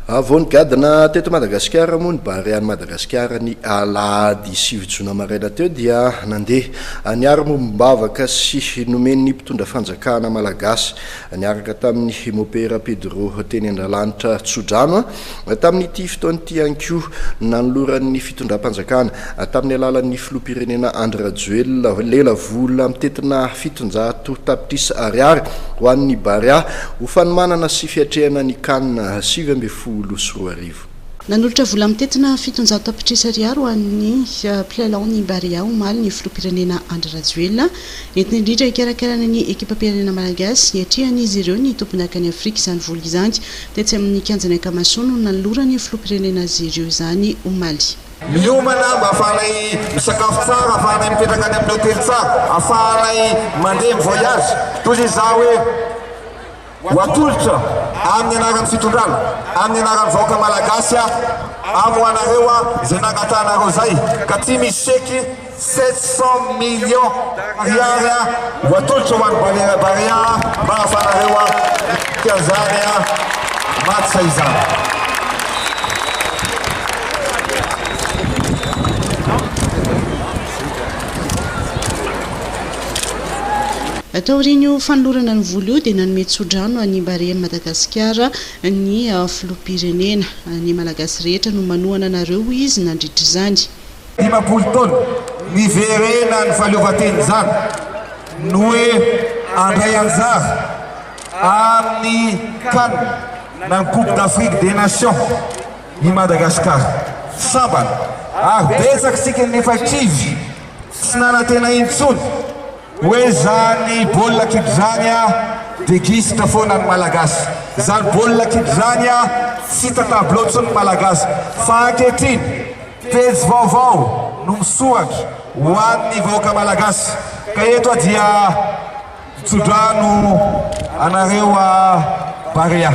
Vao nigadona teto Madagasikara moa ny Barean'i Madagasikara ny alahady sivy jona maraina teo dia nandeha niaro mombom-bavaka sy nomen'ny mpitondra fanjakana malagasy niaraka tamin'ny mopera Pedro teny Andralanitra Tsodrano tamin'ity fotoana ity ihany koa nanoloran'ny fitondram-panjakana tamin'ny alalan'ny filoham-pirenena Andry Rajoelina, lela vola mitentina fitonjato tapitrisa ariary ho an'ny Barea ho fanomanana sy fiatrehana ny Can sivy ambin'ny folo sy roa arivo. Nanolotra vola mitentina fitonjato tapitrisa ariary ho an'ny mpilalao ny Barea omaly ny filoham-pirenena Andry Rajoelina, entina indrindra hikarakarana ny ekipam-pirenena malagasy hiatrehana izy ireo ny tombonakany Afrika izany vola izany. Tetsy amin'ny kianjan'i Akamasoa no nanoloran'ny filoham-pirenena azy ireo izany, omaly. Miomana mba afahanay misakafo tsara, afahanay mipetraka any amin'ny hotely tsara, afahanay mandeha mi-voyage toy izay izaho hoe ho atolotra amin'ny anaran'ny fitondrana, amin'ny anaran'ny vahoaka Malagasy aho, amoahanareo aho izay nangatahanareo izay ka tsy misy chèque. Sept cents millions ariary ho atolotra ho an'i Balera Barea mba hahafahanareo miatrika an'izany match izany. Taorian'io fanolorana ny vola io dia nanome tsodrano an'i Barea Madagasikara ny filoham-pirenena. Ny Malagasy rehetra no manohana anareo hoy izy nandritra izany. Dimampolo taona, niverena ny fahaleovantena izany no hoe handray anjara amin'ny can na ny coupe d'Afrique des nations i Madagasikara. Sambany ary betsaka isika no efa kivy tsy nanantena intsony hoe izany baolina kitra izany dia gisitra foana ny Malagasy. Izany baolina kitra izany tsy hita tableau intsony ny Malagasy fa ankehitriny, Pejy vaovao no misoatra ho an'ny vahoaka Malagasy ka eto aho dia itsodrano anareo à Barea.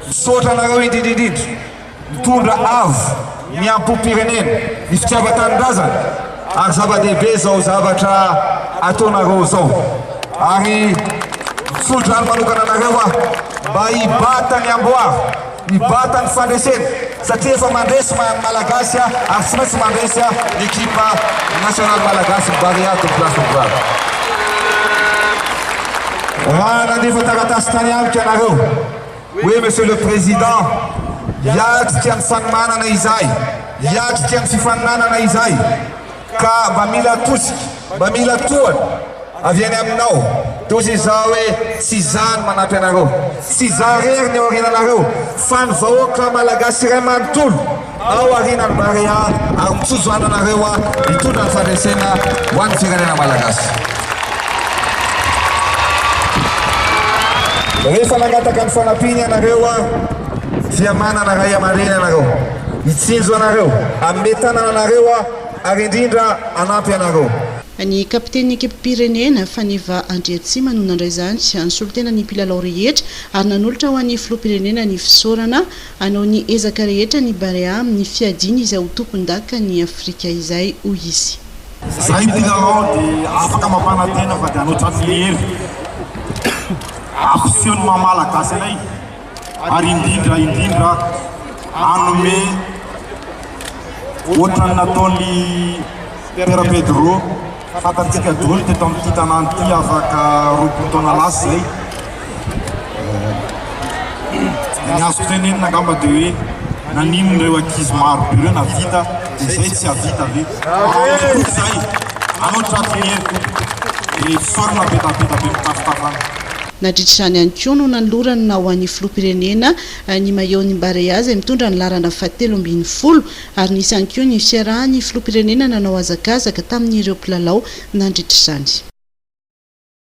Misaotra anareo indrindra indrindra mitondra avo miampom-pirenena ny fitiavan-tanindrazana ary zava-dehibe izao zavatra ataonareo izao ary mitsodrano manokana anareo aho mba hibata ny amboara Mibata ny fandresena satria efa mandresy ny maha Malagasy aho ary tsy maintsy mandresy aho ny ekipa nasionaly Malagasy, ny Barea de Place de Gloire. Raha nandefa taratasy tany amiko ianareo hoe Monsieur le Président, hiatrika ny fanomanana izahay, hiatrika ny fifaninanana izahay, ka mba mila tosika, mba mila tohana avy any aminao, toy izao hoe tsy izaho no manampy anareo, tsy izaho irery ny eo aoriananareo fa ny vahoaka Malagasy iray manontolo ao aorianan'ny Barea ary mijojjo any anareo aho hitondra ny fandresena ho an'ny firenena Malagasy. Rehefa nangataka ny fanampiana ianareo aho dia manana ray aman-dreny ianareo. Hitsinjo anareo, hanome tanana anareo aho, ary indrindra hanampy anareo. Ny kapitenin'ny ekipim-pirenena, Faneva Andriatsima no nandray izany amin'ny solontenan'ny mpilalao rehetra ary nanolotra ho an'ny filoham-pirenena ny fisaorana. Hanao ny ezaka rehetra ny Barea amin'ny fiadiany izay ho tompondakan'i Afrika izay, hoy izy. Izay ny mpilalao dia afaka mampanantena fa dia hanoatra amin'ny hery ampisehoan'ny maha Malagasy anay. ary indrindra indrindra hanome ohatran'ny nataon'ny Père Pedro fantantsika daholo teto amin'ity tanàna ity afaka roapolo taona lasa izay eh, ny azo tenenina angamba dia hoe nanino ireo ankizy maro be ireo navita dia izay tsy havita ve izay anao tratriny dia sorona be tapeta be mitafotafana Nadritra izany ihany koa no nanolorany na ho an'ny filoham-pirenena ny maillot-n'ny Barea izay mitondra ny laharana fahatelo ambin'ny folo ary nisy ihany koa ny fiarahan'ny filoham-pirenena nanao hazakazaka tamin'ireo mpilalao nandritra izany.